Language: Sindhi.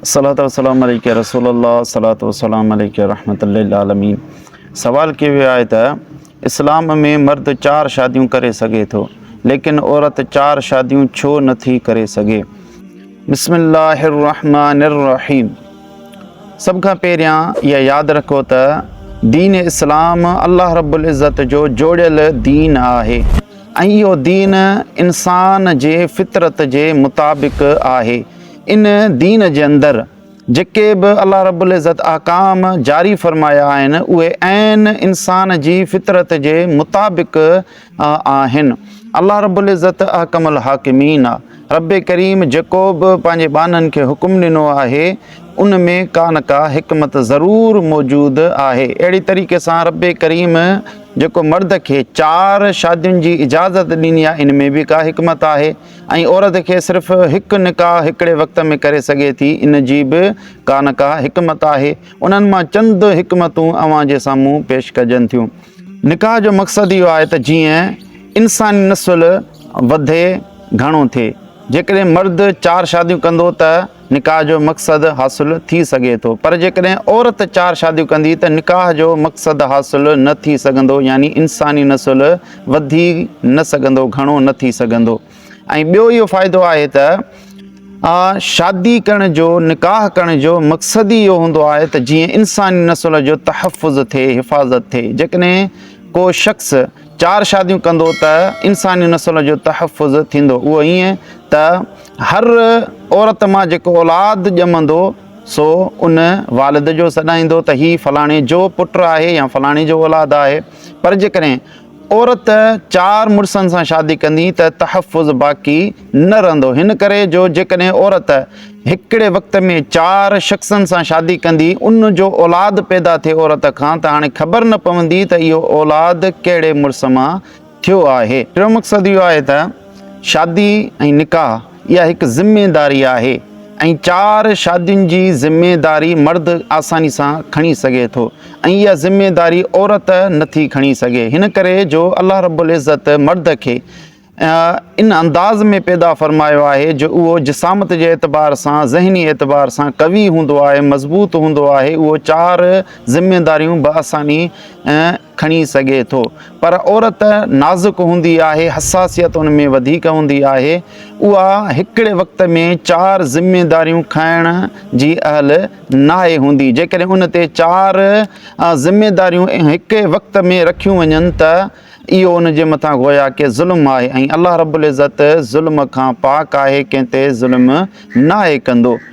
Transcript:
صلاة و سلام عليك يا رسول الله صلاة و سلام عليك يا رحمة للعالمين سوال ڪيو ويو آهي ته اسلام ۾ مرد چار شاديون ڪري سگهي ٿو ليڪن عورت چار شاديون ڇو نٿي ڪري سگهي؟ بسم الله الرحمٰن الرحيم سڀ کان پهريان اها ياد رکو ته دين اسلام الله رب العزت جو جوڙيل دين آهي ۽ اهو دين انسان جي فطرت جي مطابق آهي ان دين جي اندر جيڪي به الله رب العزت احڪام جاري فرمايا آهن اهي عين انسان جي فطرت جي مطابق آهن الله رب العزت احکم الحاڪمين آ رب ڪريم جيڪو به پنهنجي ٻانهن کي حڪم ڏنو آهي ان ۾ ڪا نه ڪا حڪمت ضرور موجود آهي اهڙي طريقي سان رب ڪريم جيڪو مرد کي چار شادين جي اجازت ڏني آهي ان ۾ به ڪا حڪمت آهي ۽ عورت کي صرف هڪ نڪاح هڪڙي وقت ۾ ڪري سگهي ٿي ان جي به ڪا نه ڪا حڪمت آهي انهن مان چند حڪمتون اوهان جي سامهون پيش ڪجن ٿيون نڪاح جو مقصد اهو آهي ته جيئن انساني نسل وڌي گهڻو ٿئي جيڪڏهن مرد چار شاديون ڪندو ته نڪاح جو مقصد حاصل ٿي سگهي ٿو پر جيڪڏهن عورت چار شاديون ڪندي ته نڪاح جو مقصد حاصل نه ٿي سگهندو يعني انساني نسل وڌي نه سگهندو گهڻو نه ٿي سگهندو ۽ ٻيو اهو فائدو آهي ته شادي ڪرڻ جو نڪاح ڪرڻ جو مقصد ئي اهو هوندو آهي ته جيئن انساني نسل جو تحفظ ٿئي حفاظت ٿئي جيڪڏهن ڪو شخص چار شاديون ڪندو ته انساني نسل جو تحفظ ٿيندو اهو ائين ته هر عورت مان جيڪو اولاد ڄمندو سو ان والد جو سڏائيندو ته هي فلاڻي جو پٽ آهي يا فلاڻي جو اولاد آهي پر جيڪڏهن عورت چار مڙسن سان شادي ڪندي ته تحفظ باقي نه رهندو هن ڪري جو جيڪڏهن عورت هڪڙي وقت ۾ چار شخصن سان شادي ڪندي ان جو اولاد پيدا ٿئي عورت کان ته هاڻي خبر نه پوندي ته اهو اولاد ڪهڙي مڙس مان ٿيو آهي. ٽيون مقصد اهو آهي ته شادي ۽ نڪاح اها هڪ ذميداري آهي ۽ چار شادين جي ذميداري مرد آساني سان کڻي سگهي ٿو ۽ اها ذميداري عورت نٿي کڻي سگهي هن ڪري جو الله رب العزت مرد کي ان انداز ۾ پيدا فرمايو آهي جو اهو جسامت جي اعتبار سان ذهني اعتبار سان قوي هوندو آهي مضبوط هوندو آهي اهو چار ذميداريون بآساني کڻي سگهي ٿو پر عورت نازڪ هوندي آهي حساسيت ان ۾ وڌيڪ هوندي آهي اها هڪڙي وقت ۾ چار ذميداريون کڻڻ جي اهل ناهي هوندي جيڪڏهن ان تي چار ذميداريون هڪ ئي وقت ۾ رکيون وڃن ته اهو ان جي مٿان گويا ڪي ظلم آهي ۽ الله رب العزت ظلم کان پاڪ آهي ڪنهن تي ظلم ناهي ڪندو.